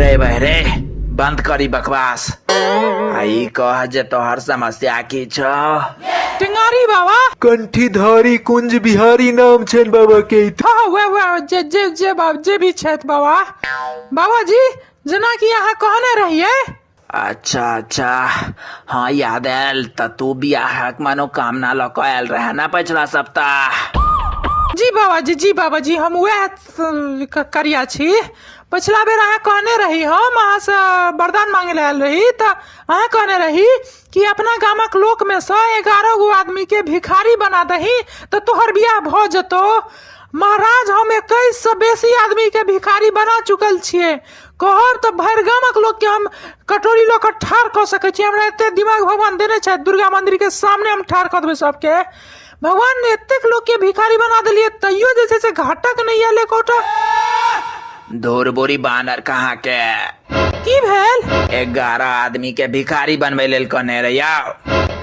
रे भाई रे बंद करी बकवास आई कह जे तोहर समस्या की छ टेंगारी बाबा कंठीधारी कुंज बिहारी नाम छन बाबा के हाँ वे वे जे जे जे बाब जे भी छथि बाबा बाबा जी जेना कि अहाँ कहने रहिए अच्छा अच्छा हाँ याद आयल तऽ तू बियाहक मनोकामना लऽ कऽ आयल रहे ने पछिला सप्ताह जी बाबाजी जी बाबाजी हम उएह स- क- करिया छी पछिला बेर अहाँ कहने रही हम अहाँसँ वरदान मांगे लए आयल रही तऽ अहाँ कहने रही कि अपना गामक लोकमे सँ एगारह गो आदमीके भिखारी बना दही तऽ तोहर बियाह भऽ जेतौ महाराज हम एकैससँ बेसी आदमीके भिखारी बना चुकल छियै कहब तऽ भरि गामक लोकके हम कटोरी लऽ कऽ ठाढ़ कऽ सकैत छी हमरा एतेक दिमाग भगवान देने छथि दुर्गा मन्दिरके सामने हम ठाढ़ कऽ देबै सभके भगवान एतेक लोकके भिखारी बना देलियै तैयो जे छै से घाटक नहि आयल एकोटा धूर बोरी बानर कहाँ के की भेल एगारह आदमी के भिखारी बनबै लेल कहने रहिया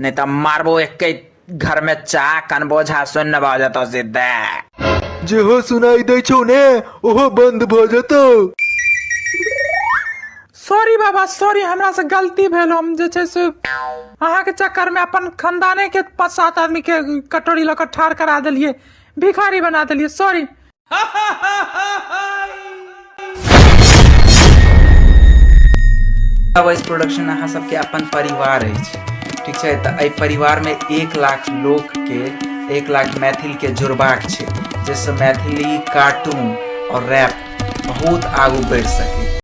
नहि तऽ मारबो एके घर में चाह कनबो झा सुन न भऽ जेतौ सीधे जेहो सुनाई दै छौ ने ओहो बंद भऽ जेतौ सॉरी बाबा सॉरी हमरा से गलती भेल हम जे छै से अहाँके चक्कर में अपन खानदाने के पाँच सात आदमी के कटोरी लऽ कऽ ठाढ़ करा देलिए भिखारी बना देलिए सॉरी वॉइस प्रोडक्शन अहाँ सबके अपन परिवार अछि ठीक छै तऽ एहि परिवारमे एक लाख लोकके एक लाख मैथिलके जोड़बाक छै जाहिसँ मैथिली कार्टून आओर रैप बहुत आगू बढ़ि सकै